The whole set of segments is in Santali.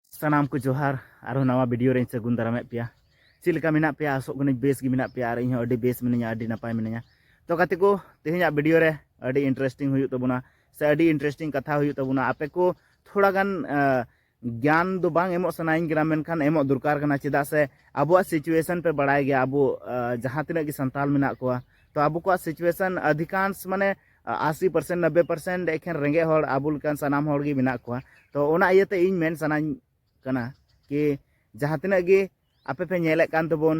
ᱥᱟᱱᱟᱢ ᱠᱚ ᱡᱚᱦᱟᱨ ᱟᱨᱦᱚᱸ ᱱᱟᱣᱟ ᱵᱷᱤᱰᱤᱭᱳ ᱨᱮᱧ ᱥᱟᱹᱜᱩᱱ ᱫᱟᱨᱟᱢᱮᱫ ᱯᱮᱭᱟ ᱪᱮᱫ ᱞᱮᱠᱟ ᱢᱮᱱᱟᱜ ᱯᱮᱭᱟ ᱟᱥᱚᱜ ᱠᱟᱹᱱᱟᱹᱧ ᱵᱮᱥ ᱜᱮ ᱢᱮᱱᱟᱜ ᱯᱮᱭᱟ ᱟᱨ ᱤᱧ ᱦᱚᱸ ᱟᱹᱰᱤ ᱵᱮᱥ ᱢᱤᱱᱟᱹᱧᱟ ᱟᱹᱰᱤ ᱱᱟᱯᱟᱭ ᱢᱤᱱᱟᱹᱧᱟ ᱛᱚ ᱜᱟᱛᱮ ᱠᱚ ᱛᱮᱦᱮᱧᱟᱜ ᱵᱷᱤᱰᱤᱭᱳ ᱨᱮ ᱟᱹᱰᱤ ᱤᱱᱴᱟᱨᱮᱥᱴᱤᱝ ᱦᱩᱭᱩᱜ ᱛᱟᱵᱚᱱᱟ ᱥᱮ ᱟᱹᱰᱤ ᱤᱱᱴᱟᱨᱮᱥᱴᱤᱝ ᱠᱟᱛᱷᱟ ᱦᱩᱭᱩᱜ ᱛᱟᱵᱚᱱᱟ ᱟᱯᱮ ᱠᱚ ᱛᱷᱚᱲᱟ ᱜᱟᱱ ᱜᱮᱭᱟᱱ ᱫᱚ ᱵᱟᱝ ᱮᱢᱚᱜ ᱥᱟᱱᱟᱭᱤᱧ ᱠᱟᱱᱟ ᱢᱮᱱᱠᱷᱟᱱ ᱮᱢᱚᱜ ᱫᱚᱨᱠᱟᱨ ᱠᱟᱱᱟ ᱪᱮᱫᱟᱜ ᱥᱮ ᱟᱵᱚᱣᱟᱜ ᱥᱤᱪᱩᱭᱮᱥᱚᱱ ᱯᱮ ᱵᱟᱲᱟᱭ ᱜᱮᱭᱟ ᱟᱵᱚ ᱡᱟᱦᱟᱸ ᱛᱤᱱᱟᱹᱜ ᱜᱮ ᱥᱟᱱᱛᱟᱞ ᱢᱮᱱᱟᱜ ᱠᱚᱣᱟ ᱛᱚ ᱟᱵᱚ ᱠᱚᱣᱟᱜ ᱥᱤᱪᱩᱭᱮᱥᱚᱱ ᱟᱹᱫᱷᱤᱠᱟᱝᱥ ᱢᱟᱱᱮ ᱟᱥᱤ ᱯᱟᱨᱥᱮᱱᱴ ᱱᱚᱵᱽᱵᱮ ᱯᱟᱨᱥᱮᱱᱴ ᱮᱠᱷᱮᱱ ᱨᱮᱸᱜᱮᱡ ᱦᱚᱲ ᱟᱵᱚ ᱞᱮᱠᱟᱱ ᱥᱟᱱᱟᱢ ᱦᱚᱲ ᱜᱮ ᱢᱮᱱᱟᱜ ᱠᱚᱣᱟ ᱛᱚ ᱚᱱᱟ ᱤᱭᱟᱹᱛᱮ ᱤᱧ ᱢᱮᱱ ᱥᱟᱱᱟᱧ ᱠᱟᱱᱟ ᱠᱤ ᱡᱟᱦᱟᱸ ᱛᱤᱱᱟᱹᱜ ᱜᱮ ᱟᱯᱮ ᱯᱮ ᱧᱮᱞᱮᱫ ᱠᱟᱱ ᱛᱟᱵᱚᱱ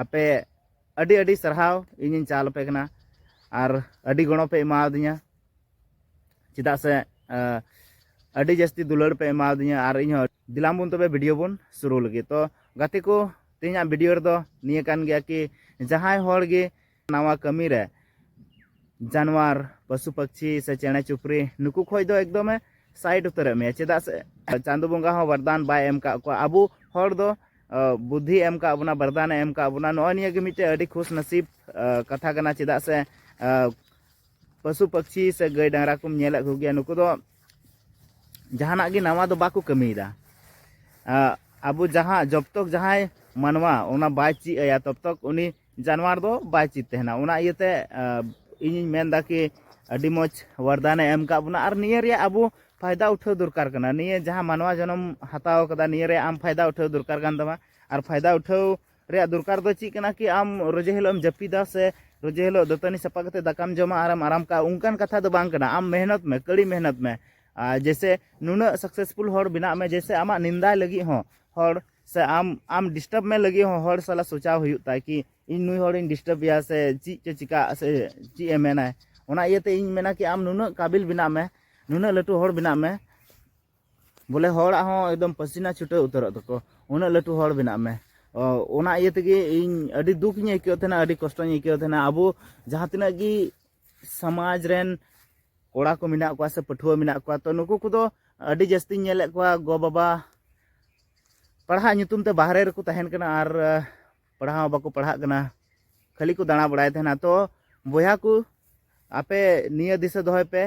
ᱟᱯᱮ ᱟᱹᱰᱤ ᱟᱹᱰᱤ ᱥᱟᱨᱦᱟᱣ ᱤᱧᱤᱧ ᱪᱟᱞ ᱟᱯᱮ ᱠᱟᱱᱟ ᱟᱨ ᱟᱹᱰᱤ ᱜᱚᱲᱚ ᱯᱮ ᱮᱢᱟᱣᱫᱤᱧᱟ ᱪᱮᱫᱟᱜ ᱥᱮ ᱟᱹᱰᱤ ᱡᱟᱹᱥᱛᱤ ᱫᱩᱞᱟᱹᱲ ᱯᱮ ᱮᱢᱟᱣᱫᱤᱧᱟ ᱟᱨ ᱤᱧ ᱦᱚᱸ ᱫᱤᱞᱟᱢ ᱵᱚᱱ ᱛᱚᱵᱮ ᱵᱷᱤᱰᱤᱭᱳ ᱵᱚᱱ ᱥᱩᱨᱩ ᱞᱟᱹᱜᱤᱫ ᱛᱚ ᱜᱟᱛᱮ ᱠᱚ ᱛᱮᱦᱮᱧᱟᱜ ᱵᱷᱤᱰᱤᱭᱳ ᱨᱮᱫᱚ ᱱᱤᱭᱟᱹ ᱠᱟᱱ ᱜᱮᱭᱟ ᱠᱤ ᱡᱟᱦᱟᱸᱭ ᱦᱚᱲ ᱜᱮ ᱱᱟᱣᱟ ᱠᱟᱹᱢᱤ ᱨᱮ ᱡᱟᱱᱣᱟᱨ ᱯᱚᱥᱩ ᱯᱟᱠᱪᱷᱤ ᱥᱮ ᱪᱮᱬᱮ ᱪᱩᱯᱨᱤ ᱱᱩᱠᱩ ᱠᱷᱚᱡ ᱫᱚ ᱮᱠᱫᱚᱢᱮ ᱥᱟᱭᱤᱰ ᱩᱛᱟᱹᱨᱮᱫ ᱢᱮᱭᱟ ᱪᱮᱫᱟᱜ ᱥᱮ ᱪᱟᱸᱫᱚ ᱵᱚᱸᱜᱟ ᱦᱚᱸ ᱵᱟᱨᱫᱟᱱ ᱵᱟᱭ ᱮᱢ ᱠᱟᱜ ᱠᱚᱣᱟ ᱟᱵᱚ ᱦᱚᱲ ᱫᱚ ᱵᱩᱫᱷᱤ ᱮᱢ ᱠᱟᱜ ᱵᱚᱱᱟ ᱵᱟᱨᱫᱟᱱᱮ ᱮᱢ ᱠᱟᱜ ᱵᱚᱱᱟ ᱱᱚᱜᱼᱚᱭ ᱱᱤᱭᱟᱹ ᱜᱮ ᱢᱤᱫᱴᱮᱡ ᱟᱹᱰᱤ ᱠᱷᱩᱥ ᱱᱟᱥᱤᱵ ᱠᱟᱛᱷᱟ ᱠᱟᱱᱟ ᱪᱮᱫᱟᱜ ᱥᱮ ᱯᱚᱥᱩ ᱯᱟᱠᱪᱷᱤ ᱥᱮ ᱜᱟᱹᱭ ᱰᱟᱝᱨᱟ ᱠᱚᱢ ᱧᱮᱞᱮᱫ ᱠᱚᱜᱮᱭᱟ ᱱᱩᱠᱩ ᱫᱚ ᱡᱟᱦᱟᱱᱟᱜ ᱜᱮ ᱱᱟᱣᱟ ᱫᱚ ᱵᱟᱠᱚ ᱠᱟᱹᱢᱤᱭᱮᱫᱟ ᱟᱵᱚ ᱡᱟᱦᱟᱸ ᱡᱚᱵᱛᱚᱠ ᱡᱟᱦᱟᱸᱭ ᱢᱟᱱᱣᱟ ᱚᱱᱟ ᱵᱟᱭ ᱪᱮᱫ ᱟᱭᱟ ᱛᱚᱵᱛᱚᱠ ᱩᱱᱤ ᱡᱟᱱᱣᱟᱨ ᱫᱚ ᱵᱟᱭ ᱪᱮᱫ ᱛᱟᱦᱮᱱᱟ ᱚᱱᱟ ᱤᱭᱟᱹᱛᱮ ᱤᱧᱤᱧ ᱢᱮᱱᱫᱟ ᱠᱤ ᱟᱹᱰᱤ ᱢᱚᱡᱽ ᱣᱟᱨᱫᱟᱱᱮ ᱮᱢ ᱠᱟᱜ ᱵᱚᱱᱟ ᱟᱨ ᱱᱤᱭᱟᱹ ᱨᱮᱭᱟᱜ ᱟᱵᱚ ᱯᱷᱟᱭᱫᱟ ᱩᱴᱷᱟᱹᱣ ᱫᱚᱨᱠᱟᱨ ᱠᱟᱱᱟ ᱱᱤᱭᱟᱹ ᱡᱟᱦᱟᱸ ᱢᱟᱱᱣᱟ ᱡᱚᱱᱚᱢ ᱦᱟᱛᱟᱣ ᱠᱟᱫᱟ ᱱᱤᱭᱟᱹ ᱨᱮ ᱟᱢ ᱯᱷᱟᱭᱫᱟ ᱩᱴᱷᱟᱹᱣ ᱫᱚᱨᱠᱟᱨ ᱠᱟᱱ ᱛᱟᱢᱟ ᱟᱨ ᱯᱷᱟᱭᱫᱟ ᱩᱴᱷᱟᱹᱣ ᱨᱮᱭᱟᱜ ᱫᱚᱨᱠᱟᱨ ᱫᱚ ᱪᱮᱫ ᱠᱟᱱᱟ ᱠᱤ ᱟᱢ ᱨᱚᱡᱮ ᱦᱤᱞᱳᱜ ᱮᱢ ᱡᱟᱹᱯᱤᱫᱟ ᱥᱮ ᱨᱚᱡᱮ ᱦᱤᱞᱳᱜ ᱫᱟᱹᱛᱟᱹᱱᱤ ᱥᱟᱯᱷᱟ ᱠᱟᱛᱮ ᱫᱟᱠᱟᱢ ᱡᱚᱢᱟ ᱟᱨᱮᱢ ᱟᱨᱟᱢ ᱠᱟᱜᱼᱟ ᱚᱱᱠᱟᱱ ᱠᱟᱛᱷᱟ ᱫᱚ ᱵᱟᱝ ᱠᱟᱱᱟ ᱟᱢ ᱢᱮᱦᱱᱚᱛ ᱢᱮ ᱠᱟᱹᱲᱤ ᱢᱮᱦᱱᱚᱛ ᱢᱮ ᱟᱨ ᱡᱮᱥᱮ ᱱᱩᱱᱟᱹᱜ ᱥᱟᱠᱥᱮᱥᱯᱷᱩᱞ ᱦᱚᱲ ᱵᱮᱱᱟᱜ ᱢᱮ ᱡᱮᱥᱮ ᱟᱢᱟᱜ ᱱᱤᱱᱫᱟᱭ ᱞᱟᱹᱜᱤᱫ ᱦᱚᱸ ᱦᱚᱲ ᱥᱮ ᱟᱢ ᱟᱢ ᱰᱤᱥᱴᱟᱨᱵ ᱢᱮ ᱞᱟᱹᱜᱤᱫ ᱦᱚᱸ ᱦᱚᱲ ᱥᱟᱞᱟᱜ ᱥᱚᱪᱟᱣ ᱦᱩᱭᱩᱜ ᱛᱟᱭ ᱠᱤ ᱤᱧ ᱱᱩᱭ ᱦᱚᱲᱤᱧ ᱰᱤᱥᱴᱟᱨᱵ ᱮᱭᱟ ᱥᱮ ᱪᱮᱫ ᱪᱚ ᱪᱤᱠᱟᱹᱜ ᱥᱮ ᱪᱮᱫ ᱮ ᱢᱮᱱᱟᱭ ᱚᱱᱟ ᱤᱭᱟᱹᱛᱮ ᱤᱧ ᱢᱮᱱᱟ ᱠᱤ ᱟᱢ ᱱᱩᱱᱟᱹᱜ ᱠᱟᱵᱤᱞ ᱵᱮᱱᱟᱜ ᱢᱮ ᱱᱩᱱᱟᱹᱜ ᱞᱟᱹᱴᱩ ᱦᱚᱲ ᱵᱮᱱᱟᱜ ᱢᱮ ᱵᱚᱞᱮ ᱦᱚᱲᱟᱜ ᱦᱚᱸ ᱮᱠᱫᱚᱢ ᱯᱟᱹᱥᱤᱱᱟ ᱪᱷᱩᱴᱟᱹᱣ ᱩᱛᱟᱹᱨᱚᱜ ᱛᱟᱠᱚ ᱩᱱᱟᱹᱜ ᱞᱟᱹᱴᱩ ᱦᱚᱲ ᱵᱮᱱᱟᱜ ᱢᱮ ᱚᱱᱟ ᱤᱭᱟᱹ ᱛᱮᱜᱮ ᱤᱧ ᱟᱹᱰᱤ ᱫᱩᱠ ᱤᱧ ᱟᱹᱭᱠᱟᱹᱣ ᱛᱟᱦᱮᱱᱟ ᱟᱹᱰᱤ ᱠᱚᱥᱴᱚᱧ ᱟᱹᱭᱠᱟᱹᱣ ᱛᱟᱦᱮᱱᱟ ᱟᱵᱚ ᱡᱟᱦᱟᱸ ᱛᱤᱱᱟᱹᱜ ᱜᱮ ᱥᱚᱢᱟᱡᱽ ᱨᱮᱱ ᱠᱚᱲᱟ ᱠᱚ ᱢᱮᱱᱟᱜ ᱠᱚᱣᱟ ᱥᱮ ᱯᱟᱹᱴᱷᱩᱣᱟᱹ ᱢᱮᱱᱟᱜ ᱠᱚᱣᱟ ᱛᱚ ᱱᱩᱠᱩ ᱠᱚᱫᱚ ᱟᱹᱰᱤ ᱡᱟᱹᱥᱛᱤᱧ ᱧᱮᱞᱮᱫ ᱠᱚᱣᱟ ᱜᱚ ᱵᱟᱵᱟ ᱯᱟᱲᱦᱟᱜ ᱧᱩᱛᱩᱢ ᱛᱮ ᱵᱟᱦᱨᱮ ᱨᱮᱠᱚ ᱛᱟᱦᱮᱱ ᱠᱟᱱᱟ ᱟᱨ ᱯᱟᱲᱦᱟᱣ ᱵᱟᱠᱚ ᱯᱟᱲᱦᱟᱜ ᱠᱟᱱᱟ ᱠᱷᱟᱹᱞᱤ ᱠᱚ ᱫᱟᱬᱟ ᱵᱟᱲᱟᱭ ᱛᱟᱦᱮᱱᱟ ᱛᱚ ᱵᱚᱭᱦᱟ ᱠᱚ ᱟᱯᱮ ᱱᱤᱭᱟᱹ ᱫᱤᱥᱟᱹ ᱫᱚᱦᱚᱭ ᱯᱮ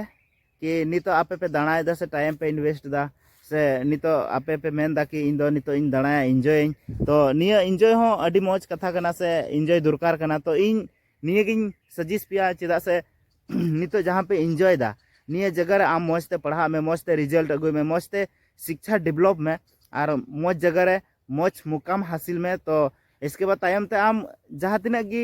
ᱠᱤ ᱱᱤᱛᱚᱜ ᱟᱯᱮ ᱯᱮ ᱫᱟᱬᱟᱭᱮᱫᱟ ᱥᱮ ᱴᱟᱭᱤᱢ ᱯᱮ ᱤᱱᱵᱷᱮᱥᱴ ᱮᱫᱟ ᱥᱮ ᱱᱤᱛᱚᱜ ᱟᱯᱮ ᱯᱮ ᱢᱮᱱᱫᱟ ᱠᱤ ᱤᱧ ᱫᱚ ᱱᱤᱛᱚᱜ ᱤᱧ ᱫᱟᱬᱟᱭᱟ ᱤᱱᱡᱚᱭᱟᱹᱧ ᱛᱚ ᱱᱤᱭᱟᱹ ᱤᱱᱡᱚᱭ ᱦᱚᱸ ᱟᱹᱰᱤ ᱢᱚᱡᱽ ᱠᱟᱛᱷᱟ ᱠᱟᱱᱟ ᱥᱮ ᱤᱱᱡᱚᱭ ᱫᱚᱨᱠᱟᱨ ᱠᱟᱱᱟ ᱛᱚ ᱤᱧ ᱱᱤᱭᱟᱹᱜᱤᱧ ᱥᱟᱡᱮᱥᱴ ᱯᱮᱭᱟ ᱪᱮᱫᱟᱜ ᱥᱮ ᱱᱤᱛᱚᱜ ᱡᱟᱦᱟᱸ ᱯᱮ ᱤᱱᱡᱚᱭᱮᱫᱟ ᱱᱤᱭᱟᱹ ᱡᱟᱭᱜᱟ ᱨᱮ ᱟᱢ ᱢᱚᱡᱽ ᱛᱮ ᱯᱟᱲᱦᱟᱜ ᱢᱮ ᱢᱚᱡᱽ ᱛᱮ ᱨᱮᱡᱟᱞᱴ ᱟᱹᱜᱩᱭ ᱢᱮ ᱢᱚᱡᱽ ᱛᱮ ᱥᱤᱠᱪᱷᱟ ᱰᱮᱵᱷᱞᱚᱯ ᱢᱮ ᱟᱨ ᱢᱚᱡᱽ ᱡᱟᱭᱜᱟ ᱨᱮ ᱢᱚᱡᱽ ᱢᱩᱠᱟᱢ ᱦᱟᱥᱤᱞ ᱢᱮ ᱛᱚ ᱤᱥᱠᱮ ᱵᱟᱫ ᱛᱟᱭᱚᱢ ᱛᱮ ᱟᱢ ᱡᱟᱦᱟᱸ ᱛᱤᱱᱟᱹᱜ ᱜᱮ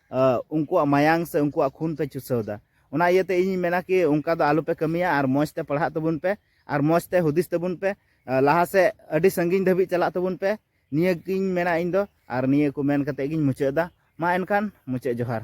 ᱩᱱᱠᱩᱣᱟᱜ ᱢᱟᱭᱟᱝ ᱥᱮ ᱩᱱᱠᱩᱣᱟᱜ ᱠᱷᱩᱱ ᱯᱮ ᱪᱩᱥᱟᱹᱣᱫᱟ ᱚᱱᱟ ᱤᱭᱟᱹᱛᱮ ᱤᱧᱤᱧ ᱢᱮᱱᱟ ᱠᱤ ᱚᱱᱠᱟ ᱫᱚ ᱟᱞᱚᱯᱮ ᱠᱟᱹᱢᱤᱭᱟ ᱟᱨ ᱢᱚᱡᱽ ᱛᱮ ᱯᱟᱲᱦᱟᱜ ᱛᱟᱵᱚᱱ ᱯᱮ ᱟᱨ ᱢᱚᱡᱽ ᱛᱮ ᱦᱩᱫᱤᱥ ᱛᱟᱵᱚᱱ ᱯᱮ ᱞᱟᱦᱟ ᱥᱮᱫ ᱟᱹᱰᱤ ᱥᱟᱺᱜᱤᱧ ᱫᱷᱟᱹᱵᱤᱡ ᱪᱟᱞᱟᱜ ᱛᱟᱵᱚᱱ ᱯᱮ ᱱᱤᱭᱟᱹ ᱜᱤᱧ ᱢᱮᱱᱟ ᱤᱧ ᱫᱚ ᱟᱨ ᱱᱤᱭᱟᱹ ᱠᱚ ᱢᱮᱱ ᱠᱟᱛᱮ ᱜᱤᱧ ᱢᱩᱪᱟᱹᱫ ᱮᱫᱟ ᱢᱟ ᱮᱱᱠᱷᱟᱱ ᱢᱩᱪᱟᱹᱫ ᱡᱚᱦᱟᱨ